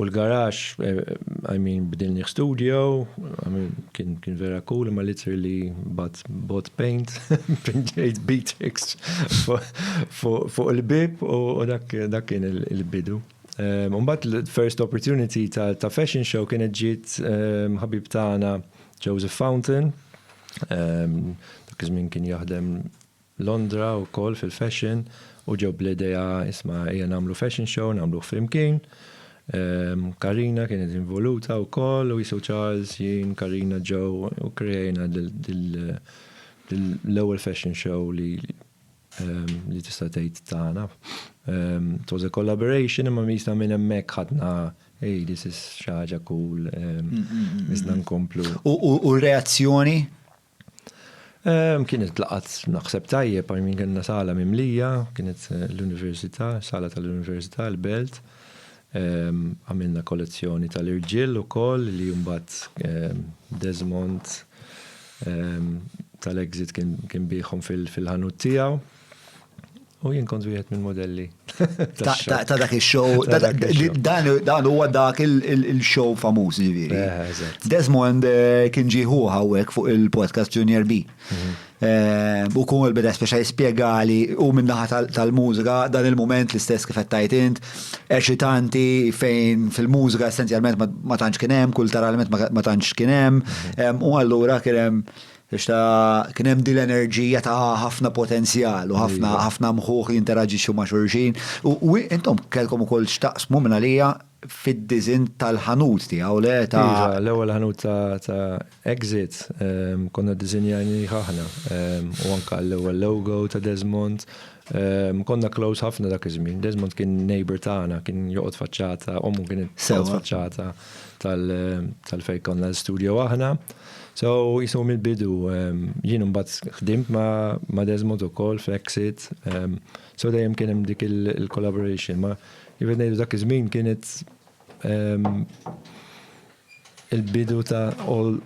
U l-garax, I mean, bdilni studio, I mean, kien, kien vera cool, imma literally bat bot paint, pinġejt Beatrix fuq il-bib u dak, dak kien il-bidu. Ehm, Umbat l-first opportunity ta', ta fashion show kienet ġiet ehm, ħabib tagħna Joseph Fountain, ehm, dak iż-żmien kien jaħdem Londra wkoll fil-fashion u ġew bl-idea isma' ejja nagħmlu fashion show nagħmluh flimkien. Karina kienet involuta wkoll u qisu Charles, jien, Karina, Joe u kkrejajna l-ewwel fashion show li li tista' tgħid tagħna. It was a collaboration imma qisna minn hemmhekk ħadna hey this is xi ħaġa cool, qisna nkomplu. U r-reazzjoni? Kienet laqat naħseb tajjeb, I mean kellna sala mimlija, kienet l-Università, sala tal-Università, l-Belt. Għamilna kollezzjoni tal-irġiel ukoll li mbagħad Desmond tal-Exit kien biegħhom fil-ħanut tiegħu. U jien kont wieħed mill-modelli. Ta' dak il-show, dan huwa dak il-show famuż ġifieri. Eh, Desmond eh, kien ġieħu hawnhekk fuq il-podcast Junior B. Mhm. Eh, u kun il beda speċa jispjegali u minnaħa tal-mużika dan il-moment l-istess kif qed int, eċitanti fejn fil-mużika essenzjalment ma tantx kien hemm, kulturalment ma tantx kien hemm, mhm. u allura kien hemm Għax ta' kien hemm din l-enerġija ta' ħafna potenzjal u ħafna ħafna mħuħ jinteraġixxu ma' xulxin. U intom kellkom ukoll x'taqsmu minn għalija fid-diżinn tal-ħanut tiegħu le ta' Iva, l-ewwel ħanut ta' Exit konna ddiżinjajnieh aħna u anke l-ewwel logo ta' Desmond. Konna close ħafna dak iż-żmien. Desmond kien neighbour tagħna, kien joqgħod faċċata, ommu kienet tgħix faċċata tal-fejn konna l-istudio aħna. So, jisnu mill-bidu, ehm, jien mbagħad ħdimt ma' Desmond ukoll f'Exit, ehm, so dejjem kien hemm dik il-collaboration, ma jibed ngħidu dak iż-żmien kienet ehm, il-bidu ta' all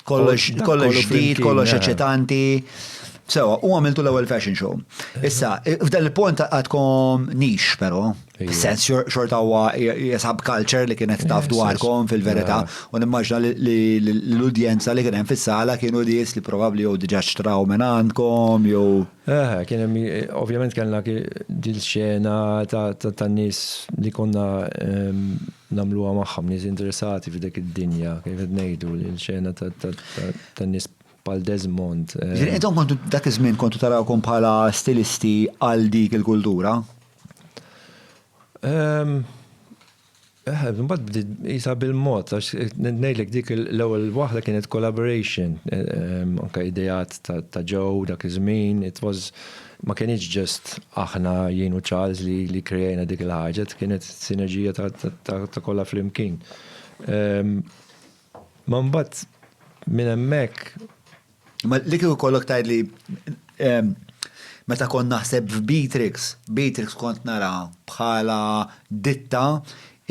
kollox kollox ġdid, kollox eċitanti. Sewa, u għamiltu l-ewwel fashion show. Issa, f'dan il-punt għadkom nix, però. Sens xorta huwa jesab culture li kienet taf dwarkom fil-verità u nimmaġna li l-udjenza li kien hemm fis-sala kienu nies li probabbli jew diġà xtraw minn għandkom jew. Eh, kien hemm ovvjament kellna dil xena ta' nies li konna ehm, nagħmluha magħhom nies interessati f'dik id-dinja kif qed ngħidu l xena ta' nies pal Desmond. Ehm. Intom kontu dak iż-żmien kontu tarawkom bħala stilisti għal dik il-kultura? Ehm, eh, mbagħad bdiet isa bil-mod għax ngħidlek dik l-ewwel waħda kienet collaboration, ehm, anke ideat ta' ġew dak iż-żmien, it was ma kienx ġest aħna jien u Charles li li krejajna dik il-ħaġa, kienet sinerġija ta' kollha flimkien. Ehm, ma mbagħad minn hemmhekk Ma li kieku kollok tgħid li ehm, meta kont naħseb f'Beatrix, Beatrix kont nara bħala ditta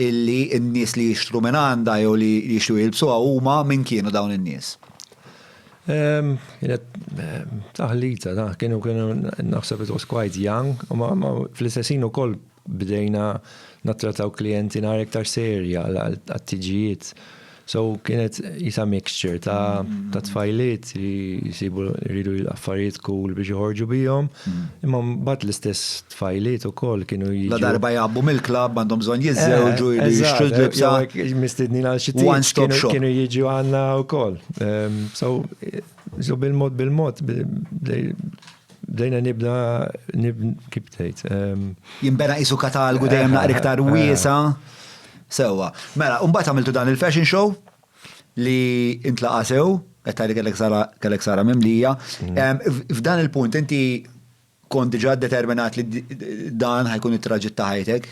illi n-nies li jixtru minn għandha jew li jixtru jilbsuha huma min kienu dawn in-nies. Ehm, kienet ehm, taħlita, kienu kienu naħseb it was quite young, u fl-istessin ukoll Bdejna nattrataw klijenti nhar iktar serja għat-tiġijiet. So kienet jisa mixture ta' ta' tfajliet li jisibu jridu affarijiet cool biex joħorġu bihom, imma mbagħad l-istess tfajliet ukoll kienu jiġu. La darba jgħabbu mill-klabb għandhom bżonn jiżżewġu jridu jixtru l-libsa. Mistednin għal xi tip kienu jiġu għandna wkoll. So bil-mod bil-mod. Bdejna nibna kif tgħid. Jinbena qisu katalgu dejjem naqra iktar wiesa. Sewwa. Mela, u mbagħad għamiltu dan il-fashion show li intlaqa' sew, qed tgħid li kellek sara mimlija. F'dan il-punt inti kont diġà determinat li dan ħajkun it-traġitt ta' ħajtek?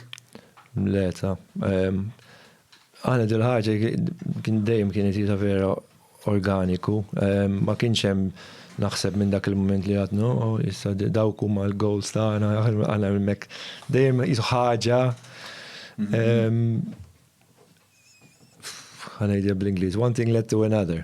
Le, ta'. Aħna dil-ħaġa kien dejjem kienet hi ta' vera organiku. Ma kienx hemm naħseb minn dak il-mument li għad no, issa dawk huma l-goals tagħna, aħna hemmhekk dejjem qisu ħaġa ħa ngħidha bl-Ingliż, one thing led to another.